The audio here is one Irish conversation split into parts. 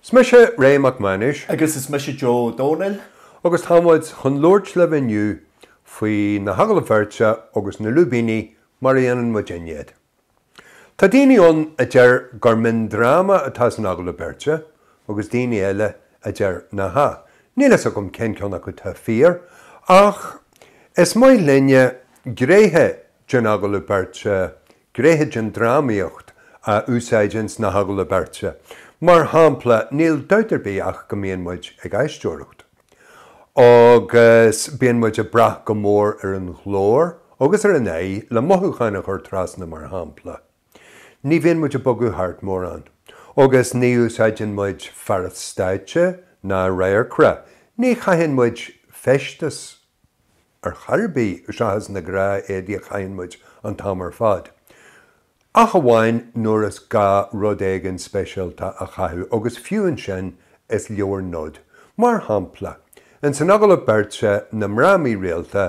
Is mise Ray Mac Mánais. Agus is mise Joe Ó Dónaill. Agus tá muid chun labhairt libh inniu faoi na hagallaimh bheirte agus na lúibíní mar a dhéanann muidinne iad. Tá daoine ann a deir gur mion-dráma atá san agallamh beirte agus daoine eile a deir nach ea. Níl a fhios agam cén ceann acu tá fíor ach is maith linne gnéithe den agallamh beirte, gnéithe den drámaíocht a úsáid ins na hagallaimh beirte. Mar shampla, níl dabht ar bith ach go mbíonn muid ag aisteoireacht. Agus bíonn muid ag brath go mór ar an ghlór agus ar an aghaidh le mothúcháin a chur trasna, mar shampla. Ní bhíonn muid ag bogadh thart mórán. Agus ní úsáideann muid fearas stáitse ná radharcra, ní chaitheann muid feisteas ar chor ar bith seachas na gnáthéadaí a chaitheann muid an t-am ar fad, ach amháin nuair is gá rud éigin speisialta a chaitheamh, agus fiú ansin is leor nod. Mar shampla, ins an agallamh beirte Na Mná Mírialta,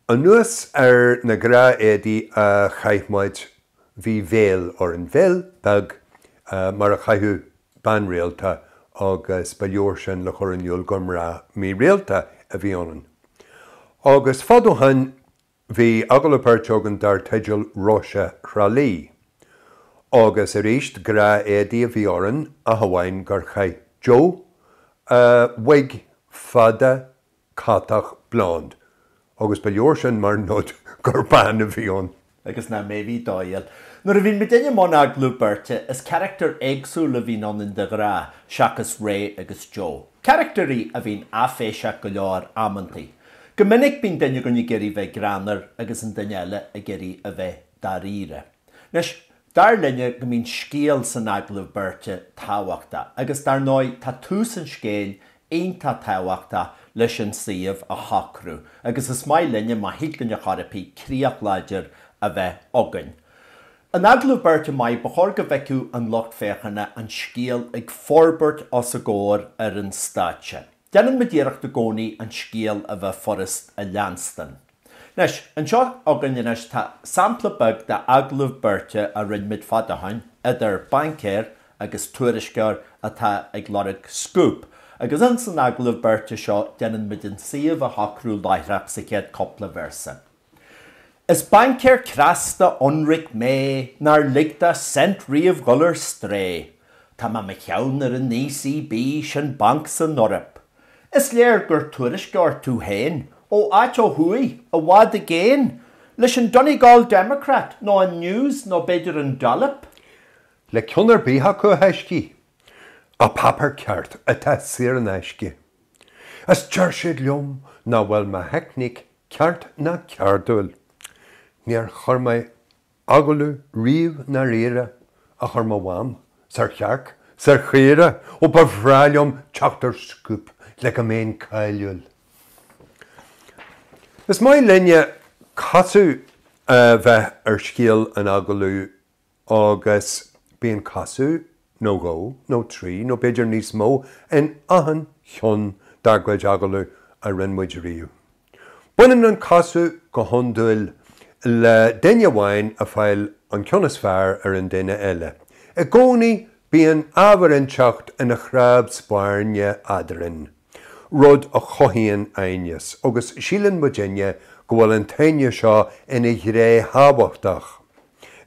anuas ar na gnáthéadaí a chaith muid, bhí veil orainn, veil bheag mar a chaitheadh bean rialta agus ba leor sin le chur in iúl gur mná mírialta a bhí ionainn. Agus fad ó shoin bhí agallamh beirte againn dar teideal 'Róise Thrá Lí'. Agus aríst gnáthéadaí a bhí orainn ach amháin gur chaith Joe wig fada, catach, blonde. Agus ba leor sin mar nod gur bean a bhí ann. Agus ná méadaigh do fhéin. Nuair a bhíonn muidinne i mbun agallamh beirte, is carachtair éagsúla a bhíonn ionainn de ghnáth, seachas Ray agus Joe. Carachtairí a bhíonn áiféiseach go leor, amanntaí. Go minic, bíonn duine againn ag iarraidh bheith greannmhar agus an duine eile ag iarraidh a bheith dáiríre. Anois, Dar linne go mbíonn scéal san agallamh beirte tábhachtach agus dar ndóigh tá tús an scéil iontach tábhachtach leis an suíomh a shocrú agus is maith linne, má thig linn ar chor ar bith, críoch láidir a bheith againn. In agallamh beirte maith, ba chóir go bhfeicfeadh an lucht féachana an scéal ag forbairt os a gcomhair ar an stáitse. Déanann muid iarracht i gcónaí an scéal a bheith furast a leanstan. Anois, anseo againn anois tá sampla beag d'agallamh beirte a rinne muid fad ó shin, idir baincéir agus tuairisceoir atá ag lorg 'scúp', agus ins an agallamh beirte seo déanann muid an suíomh a shocrú láithreach sa chéad cúpla véarsa. Is baincéir cneasta ionraic mé nár lig do cent riamh dhul ar strae, Tá mé 'mo cheann ar an ECB, sin banc san Eoraip, Is léir gur tuairisceoir tú féin ó áit ó thuaidh, i bhfad i gcéin, leis an Donegal Democrat nó an News nó b'fhéidir an Dollop. Le ceann ar bith acu a thaiscí. Ach páipéar ceart atá saor in aisce. Is deir siad liom nach bhfuil mo theicníc ceart ná ceardúil. Níor chuir mé. Agallamh riamh dáiríre ach ar mo mham is ar chearc is ar chaora ó ba bhreá liom teacht ar scúp le go mbeinn cáiliúil. Is maith linne casadh a bheith ar scéal an agallamh agus bíonn casadh nó dhó, nó trí, nó b'fhéidir níos mó, in achan cheann dár gcuid agallamh a rinne muid riamh. Baineann an casadh go hiondúil le duine amháin ag fáil an ceann is fearr ar an duine eile. I gcónaí bíonn ábhar inteacht ina chnámh spairne eadrainn, rud a chothaíonn aighneas, agus síleann muidinne go bhfuil an t-aighneas seo ina ghné thábhachtach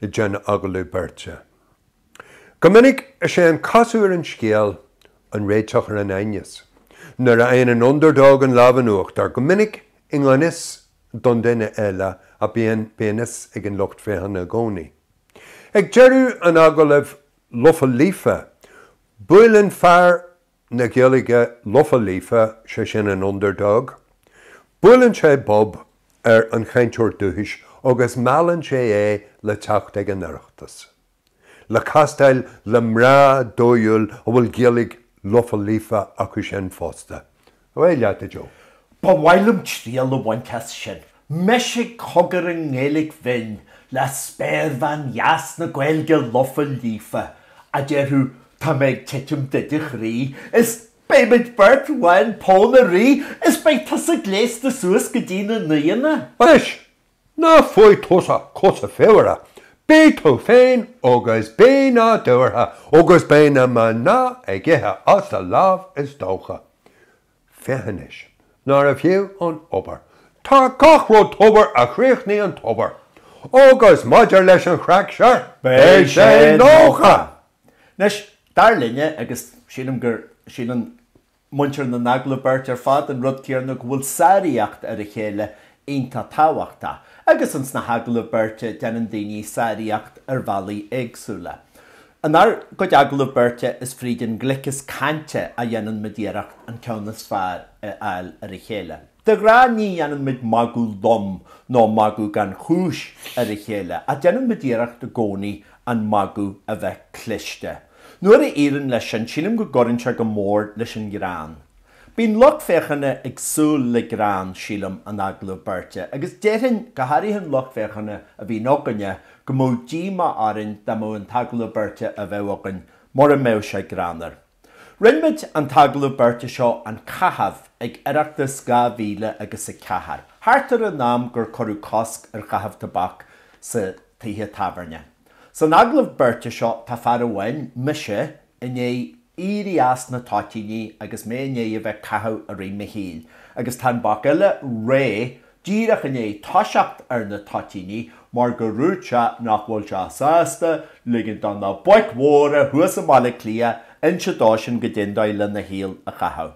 den agallamh beirte. Go minic, is é an casadh ar an scéal an réiteach ar an aighneas. Nuair a fhaigheann an underdog an lámh in uachtar, go minic i ngan fhios don duine eile, ach bíonn a fhios ag an lucht féachana i gcónaí. Ag deireadh an agallaimh lofa líofa, buaileann fear na Gaeilge lofa líofa, sé sin an underdog, buaileann sé bob ar an chainteoir dúchais agus meallann sé é le teacht ag an Oireachtas. le castáil le mná dóighiúil a bhfuil Gaeilge lofa líofa acu sin fosta. Away leat, a Joe. Ba mhaith liom triail a bhaint as sin, mise ag cogar i nGaeilge bhinn le spéirbhean dheas na Gaeilge lofa líofa, a déarfadh 'Tá mé ag titim duit a chroí' is 'Beidh muid beirt lán pónairí' is 'Beidh tusa gléasta suas go dtí na naonna'. Anois, Ná faigh tusa cosa fuara, beidh tú féin agus beidh na daortha agus beidh na mná ag ithe as do láimh is dócha. Féach anois, nárbh fhiú an obair. Tá gach rud tobair a chríochnaíonn tobair. Agus maidir leis an chraic, sure, beidh sé nócha! Anois, dar linne, agus sílim go síleann, Muintir na n-agallamh beirte ar fad, an rud céarna go bhfuil sáraíocht ar a chéile iontach tábhachtach, agus in sna hagallaimh beirte déanann daoine sáraíocht ar bhealaí éagsúla. Inár gcuid agallamh beirte is fríd an ngliceas cainte a dhéanann muid iarracht an ceann is fearr a fháil ar a chéile. De ghnáth ní dhéanann muid magadh lom nó magadh gan chúis ar a chéile, ach déanann muid iarracht i gcónaí an magadh a bheith cliste. Nuair a éiríonn leis sin, sílim go gcuireann sé go mór leis an ngreann. Bíonn lucht féachana ag súil le greann, sílim, in agallamh beirte, agus déarfainn, go háirithe an lucht féachana a bhíonn againne, go mbeadh díomá orainn dá mbeadh an t-agallamh beirte a bheadh againn mura mbeadh sé greannmhar. Rinne muid an t-agallamh beirte seo, An Caitheamh, ag Oireachtas dhá mhíle agus a ceathair, thart ar an am gur cuireadh cosc ar chaitheamh tobac sa tithe tábhairne. San agallamh beirte seo tá fear amháin, mise, i ndiaidh éirí as na toitíní agus mé i ndiaidh a bheith ag caitheamh i rith mo shaoil, agus tá an boc eile, Ray, díreach i ndiaidh toiseacht ar na toitíní mar gur dhúirt sé nach bhfuil sé sásta ligint do na boic mhóra thuas i mBaile Átha Cliath inse dósan goidé an dóigh lena shaol a chaitheamh.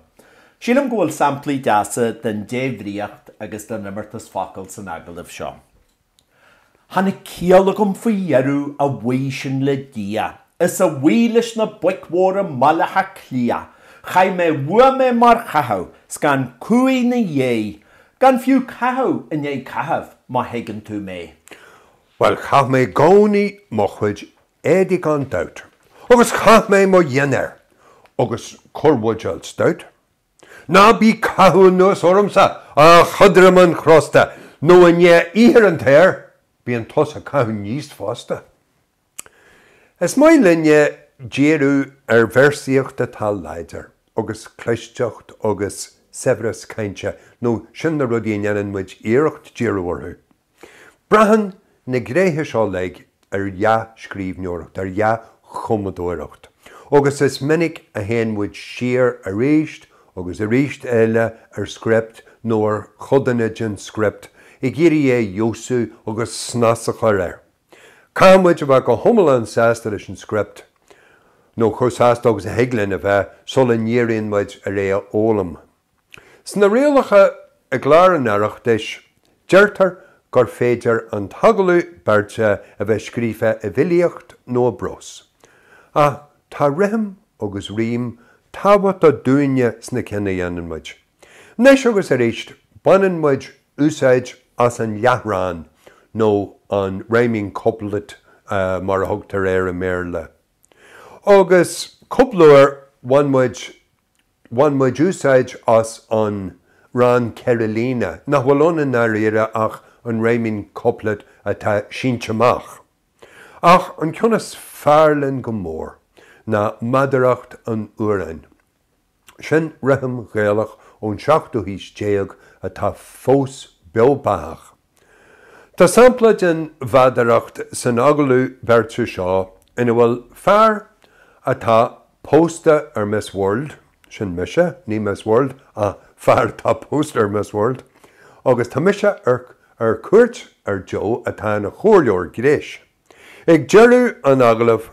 Sílim go bhfuil samplaí deasa den débhríocht agus den imeartas focal san agallamh seo. Tháinig ciall agam faoi dheireadh, a bhuí sin le Dia, is a bhuí leis na boic mhóra i mBaile Átha Cliath, chaith mé uaim é mar chaitheamh 's gan cumhaidh ina dhiaidh, gan fiú caitheamh i ndiaidh caithimh, má thuigeann tú mé. Bhuel, chaith mé i gcónaí mo chuid éadaigh gan dabht, agus chaith mé mo dhinnéar, agus corrbhuidéal stout, Ná bí ag caitheamh anuas ormsa, a chadramáin chrosta, nó i ndiaidh oíche ar an tear, bíonn tusa ag caitheamh aníos fosta. Is maith linne díriú ar véarsaíocht atá láidir, agus clisteacht agus saibhreas cainte, nó sin na rudaí a ndéanann muid iarracht díriú orthu. Braitheann na gnéithe seo uilig ar dhea-scríbhneoireacht, ar dhea-chumadóireacht, agus is minic a théann muid siar arís agus arís eile ar script nó ar chodanna den script ag iarraidh é a fheabhsú agus snas a chur air. Caithfidh muid a bheith go hiomlán sásta leis an script, nó chomh sásta agus a thig linn a bheith, sula ndíríonn muid ar é a fhoghlaim. Sna rialacha i gClár an Oireachtais, deirtear gur féidir an t-agallamh beirte a bheith scríofa i bhfilíocht nó i bprós. Ach tá rithim agus rím tábhachtach dúinne sna cinn a dhéanann muid. Anois agus arís, baineann muid úsáid as an leathrann nó an rhyming couplet mar a thugtar air i mBéarla. Agus cúpla uair, bhain muid Bhain muid úsáid as an rann ceithre líne, nach bhfuil ann i ndáiríre ach an rhyming couplet atá sínte amach. Ach an ceann is fearr linn go mór ná meadaracht an amhráin. Sin rithim Ghaelach ón tseachtú haois déag atá fós beo beathach. Tá sampla den mheadaracht san agallamh beirte seo ina bhfuil fear atá pósta ar Miss World, sin mise, ní Miss World ach fear atá pósta ar Miss World, agus tá mise ar ar cuairt ar Joe atá ina chomhairleoir gnéis. Ag deireadh an agallaimh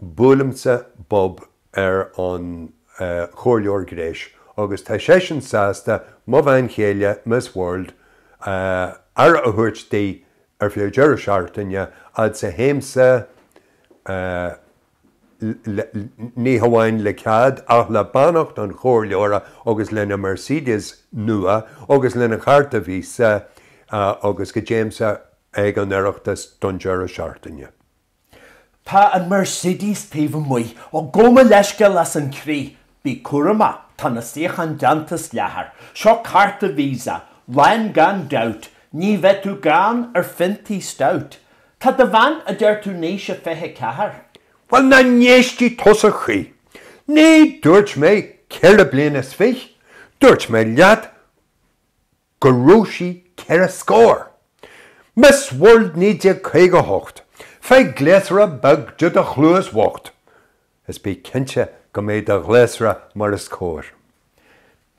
Buailimse bob ar an chomhairleoir gnéis agus tá seisean sásta mo bhean chéile, Miss World, aire a thabhairt di ar feadh deireadh seachtaine, fhad 's a théimse, ní hamháin le cead, ach le beannacht an chomhairleora agus lena Mercedes nua agus lena chárta Visa agus go dtéimse ag an Oireachtas don deireadh seachtaine. Tá an Mercedes taobh amuigh. Ó, gabh mo leithscéal as an chroí. Bí cúramach, tá na suíocháin déanta as leathar. Seo cárta Visa. Lán gan dabht. Ní bheidh tú gann ar phiontaí stout. Tá do bhean, a deir tú in aois a 24? Bhuel, nach n-éistfidh tusa choíche. Ní dúirt mé ceithre bliana is fich', dúirt mé leat go raibh sí ceithre scór. Miss World 1958, faigh gléasra beag do do chluas bhocht is bí cinnte go mbeidh do ghléasra mar is cóir.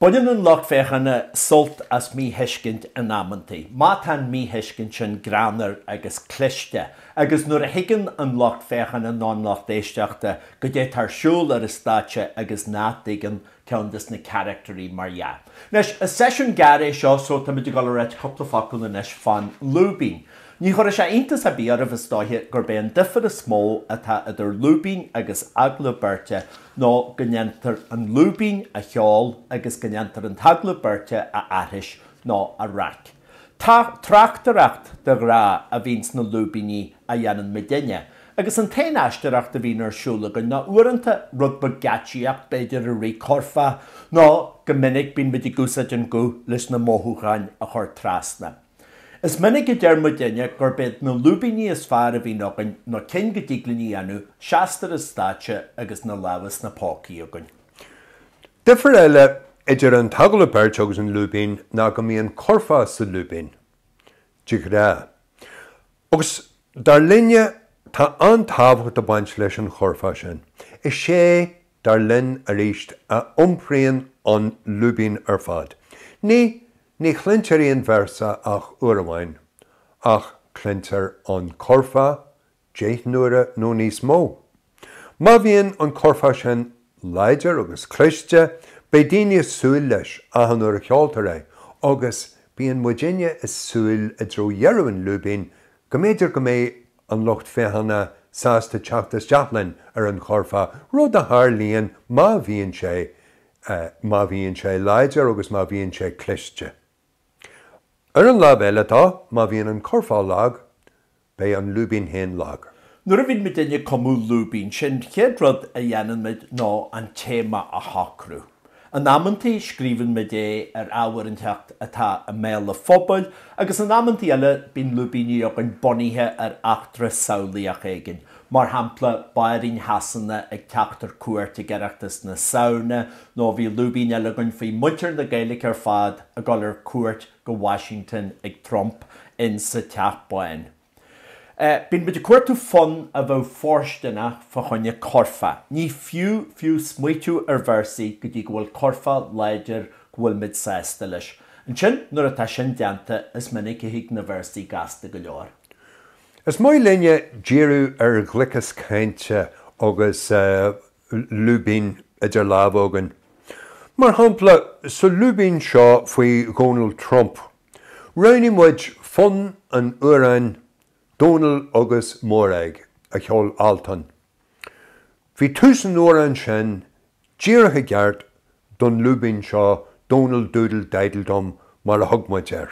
Baineann an lucht féachana sult as míthuiscint in amanntaí, má tá an mhíthuiscint sin greannmhar agus cliste, agus nuair a thuigeann an lucht féachana nó an lucht éisteachta goidé atá ar siúl ar an stáitse agus nach dtuigeann ceann de na carachtairí, mar dhea. Anois, is seisiún gearr é seo, so táimid ag dul a ráit cúpla focal anois fán lúibín. Ní chuirfeadh sé iontas ar bith oraibh, is dóiche, gurb é an duifear is mó atá idir lúibín agus agallamh beirte nó go ndéantar an lúibín a cheol agus go ndéantar an t-agallamh beirte a aithris nó a reic. Tráchtaireacht de ghnáth a bhíonn sna lúibíní a dhéanann muid inniu, agus an t-aon aisteoireacht a bhíonn ar siúl againn ná uaireanta rud beag geáitsíocht b'fhéidir i rith curfá, nó go minic bíonn muid ag úsáid an guth leis na mothúcháin a chur trasna. Is minic a deir muid inniu gurb iad na lúibíní is fearr a bhíonn againn nó cinn go dtig linn a dhéanamh, seasta ar an stáitse agus na lámha sna pócaí againn. Difear eile idir an t-agallamh beirte agus An Lúibín ná go mbíonn curfá sa Lúibín, de ghnáth. Agus, dar linne, tá an-tábhacht ag baint leis an churfá sin. Is é, dar linn, arís, a iompraíonn An Lúibín ar fad. Ní, ní chluintear aon véarsa ach uair amháin, ach cluintear an curfá, deich n-uaire nó níos mó. Má bhíonn an curfá sin láidir agus cliste, beidh daoine ag súil leis achan uair a cheoltar é, agus bíonn muidinne ag súil i dtreo dheireadh an lúibín go mb'fhéidir go mbeidh an lucht féachana sásta teacht isteach linn ar an churfá, rud a tharlaíonn má bhíonn sé, má bhíonn sé láidir agus má bhíonn sé cliste. Ar an lámh eile de, má bhíonn an curfá lag, Beidh an lúibín féin lag. Nuair a bhíonn muid ag cumadh lúibín, sé'n chéad rud a dhéanann muid ná an téama a shocrú. In amanntaí, scríobhann muid é ar ábhar éiginteacht atá i mbéal an phobail, agus in amanntaí eile, bíonn lúibíní againn bunaithe ar eachtra samhlaíoch éigin, mar shampla, Bairíon Shasana ag teacht ar cuairt ag Oireachtas na Samhna, nó bhí lúibín eile againn faoi mhuintir na Gaeilge ar fad ag dul ar cuairt go Washington ag Trump in sa Teach Bán. Bíonn muid ag cuartú fonn a bheadh fóirsteanach fá choinne curfá. Ní fiú fiú smaointeamh ar véarsaí go dtí go bhfuil curfá láidir go bhfuil muid sásta leis. Ansin nuair atá sin déanta is minic a thig na véarsaí gasta go leor. Is maith linne díriú ar ghliceas cainte agus lúibín idir lámha againn. Mar shampla, sa lúibín seo faoi Dhonald Trump, roghnaigh muid fonn an amhráin 'Dónall agus Mórag' a cheol Altan. Bhí tús an amhráin sin díreach i gceart don lúibín seo 'Donald Doodle Diddle Dum' mar a thug muid air.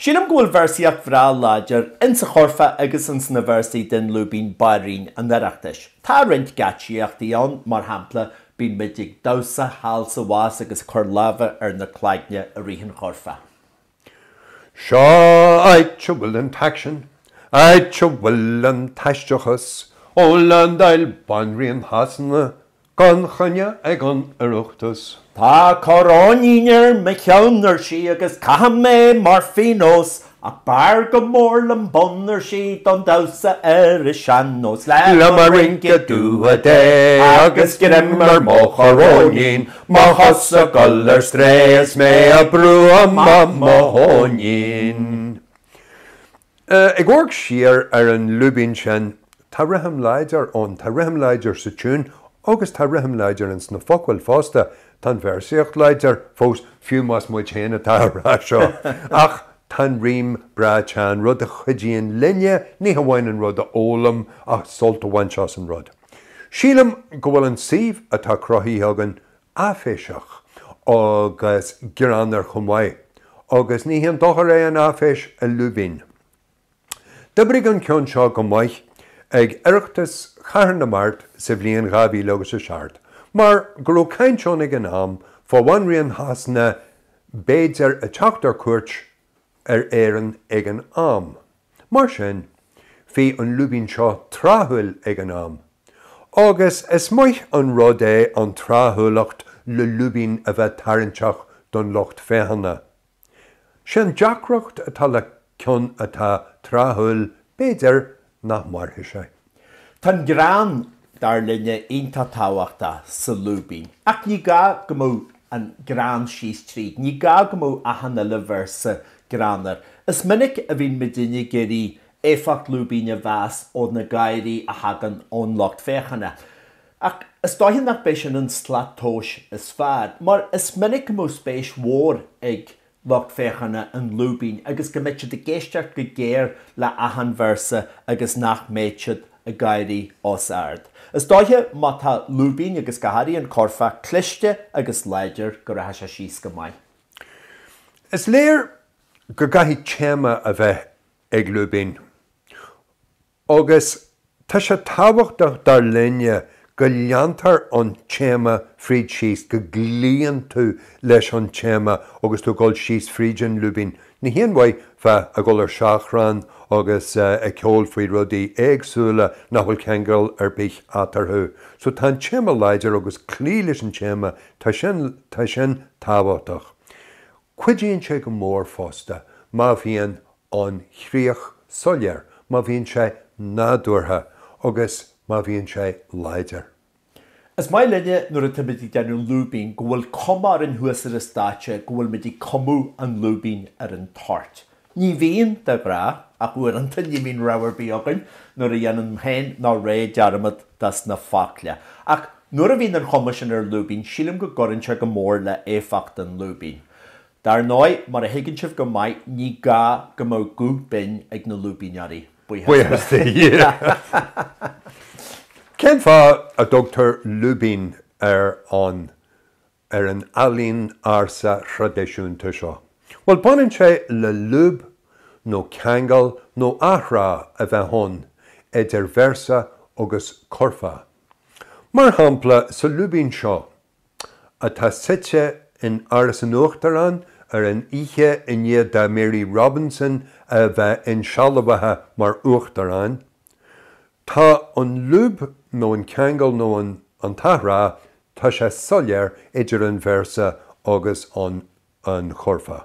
Sílim go bhfuil véarsaíocht bhreá láidir ins a' churfá agus ins na véarsaí den lúibín Bairíon an Oireachtais. Tá roinnt geáitsíochta ann, mar shampla, Bíonn muid ag damhsa thall is abhus agus ag cur lámha ar na cloigne i rith an churfá. Seo áit a bhfuil an t-aicsean, áit a bhfuil an t-aisteachas, Ó landáil, Bainríon Shasana, Gan choinne ag an Oireachtas. Tá coróinín ar mo cheann, ar sí, agus caithim é mar phionós, ach b'fhearr go mór liom bonn, ar sí, don damhsa ar an sean-nós. Le mo rinky dooly dé agus greim ar mo choróinín, mo chos ag gabháil ar strae is mé a' brú amach mo thóinín. Ag amharc siar ar an lúibín sin, tá rithim láidir ann. Tá rithim láidir sa tiún agus tá rithim láidir ins na focail fosta. Tá an véarsaíocht láidir fós, fiú más muid féin atá á rá seo. Ach tá an rím breá teann, rud a chuidíonn linne ní hamháin an rud a fhoghlaim ach sult a bhaint as an rud. Sílim go bhfuil an suíomh atá cruthaithe againn áiféiseach agus greannmhar chomh maith, agus ní haon dochar é an áiféis i lúibín. D'oibrigh an ceann seo go maith ag Oireachtas Chathair na Mart sa bhliain dhá mhíle agus a seacht, mar go raibh caint ann ag an am fá Bhanríon Shasana b'fhéidir ag teacht ar cuairt ar Éirinn ag an am. Mar sin, bhí an lúibín seo tráthúil ag an am. Agus is maith an rud é an tráthúlacht le lúibín a bheith tarraingteach don lucht féachana. Sé an deacracht atá le ceann atá tráthúil, b'fhéidir, nach mairfidh sé. Tá an greann, dar linne, iontach tábhachtach sa lúibín, ach ní gá go mbeadh an greann síos tríd, ní gá go mbeadh achan uile véarsa greannmhar. Is minic a bhíonn muidinne ag iarraidh éifeacht lúibín a mheas ó na gáirí a thagann ón lucht féachana, ach is dóiche nach b'é sin an slat tomhais is fearr, mar is minic go mbeadh spéis mhór ag lucht féachana an lúibín agus go mbeidh siad ag éisteacht go géar le achan véarsa agus nach mbeidh siad ag gáirí os ard. Is dóiche má tá lúibín agus go háirithe an cúrfá cliste agus láidir go rachaidh sé síos go maith. Is léir go gcaithfidh téama a bheith ag lúibín. Agus tá sé tábhachtach dar linne go leantar an téama fríd síos, go gcloíonn tú leis an téama agus tú ag dul síos fríd an lúibín. Ní haon mhaith bheith ag dul ar seachrán agus ag ceol faoi rudaí éagsúla nach bhfuil ceangal ar bith eatarthu. So tá an téama láidir agus cloí leis an téama, tá sin, tá sin tábhachtach. Cuidíonn sé go mór fosta má bhíonn an chríoch soiléir má bhíonn sé nádúrtha agus má bhíonn sé láidir. Is maith linne nuair atá muid ag déanamh lúibín go bhfuil cuma orainn thuas ar an stáitse go bhfuil muid ag cumadh an lúibín ar an toirt. Ní bhíonn, de ghnáth, ach uaireanta ní bhíonn rogha ar bith againn nuair a dhéanaim féin nó Ray dearmad dos na focla. Ach nuair a bhíonn an chuma sin ar lúibín sílim go gcuireann sé go mór le éifeacht an lúibín. Dar ndóigh, mar a thuigeann sibh go maith, ní gá go mbeadh guth binn ag na lúibíneoirí, buíochas do Dhia! Cén fáth a dtugtar lúibín ar an ar an ealaín ársa thraidisiúnta seo? Bhuel, baineann sé le lúb nó ceangal nó athrá a bheith ann idir véarsa agus curfá. Mar shampla, sa lúibín seo, atá suite in Áras an Uachtaráin ar an oíche i ndiaidh do Mary Robinson a bheith insealbhaithe mar Uachtarán, tá an lúb nó an ceangal nó an an t-athrá, tá sé soiléir idir an véarsa agus an churfá.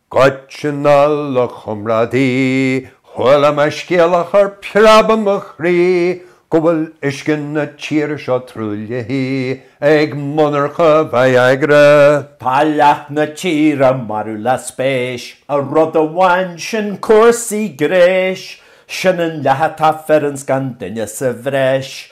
Goitse anall, a chomrádaí, chuala mé scéal a chuir preab i mo chroí, go bhfuil uisce na tíre seo truaillithe ag monarcha Viagra. Tá leath na tíre marbh le spéis i rud amháin, sin cúrsaí gnéis, sin an leath atá fireann 's gan duine sa bhreis,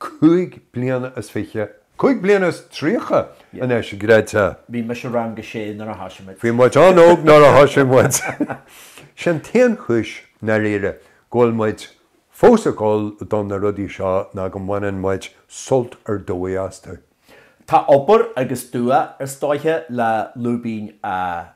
cúig bliana is fiche, cúig bliana is tríocha anois, an gcreidfeá. Bhí mise i rang a sé nuair a thosaigh muid. Bhí muid an-óg nuair a thosaigh muid. Sé an t-aon chúis, i ndáiríre, go bhfuil muid fós ag gabháil do na rudaí seo ná go mbaineann muid sult ar dóigh astu. Tá obair agus dua áirithe le lúibín a